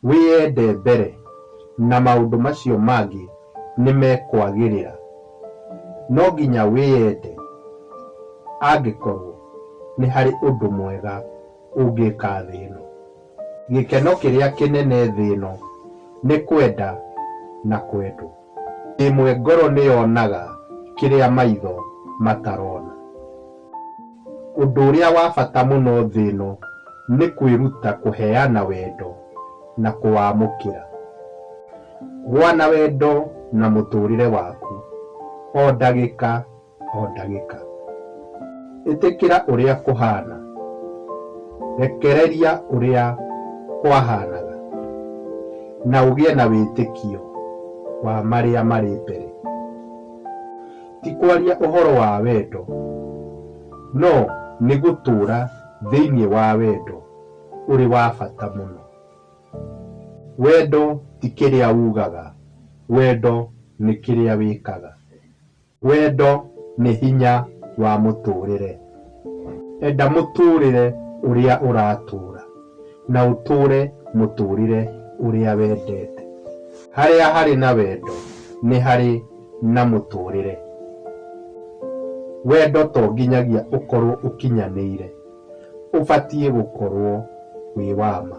Wĩyende mbere, na maũndũ macio mangĩ nĩ mekwagĩrĩra. No nginya wĩyende angĩkorũo nĩ harĩ ũndũ mwega ũngĩka thĩ ĩno. Gĩkeno kĩrĩa kĩnene thĩ ĩno nĩ kwenda na kwendwo. Ĩmwe ngoro nĩyonaga kĩrĩa maitho matarona. Ũndũ ũrĩa wa bata mũno thĩ ĩno nĩ kwĩruta kũheana wendo na kũwamũkĩra. Gũa na wendo na mũtũrĩre waku o ndagĩka. o ndagĩka. Ĩtĩkĩra ũrĩa kũhaana. Rekereria ũrĩa kwahaanaga na ũgĩe na wĩtĩkio wa marĩa marĩ mbere. Ti kwaria ũhoro wa wendo, no nĩ gũtũũra thĩinĩ wa wendo ũrĩ wa bata mũno. Wendo ti kĩrĩa ugaga, wendo nĩ kĩrĩa wĩkaga. Wendo nĩ hinya wa mũtũũrĩre. Enda mũtũũrĩre ũrĩa ũratũũra, na ũtũũre mũtũũrĩre ũrĩa wendete. Harĩa harĩ na wendo nĩ harĩ na mũtũũrĩre. Wendo to nginyagia ũkorũo ũkinyanĩire, ũbatiĩ gũkorũo wĩ wa ma.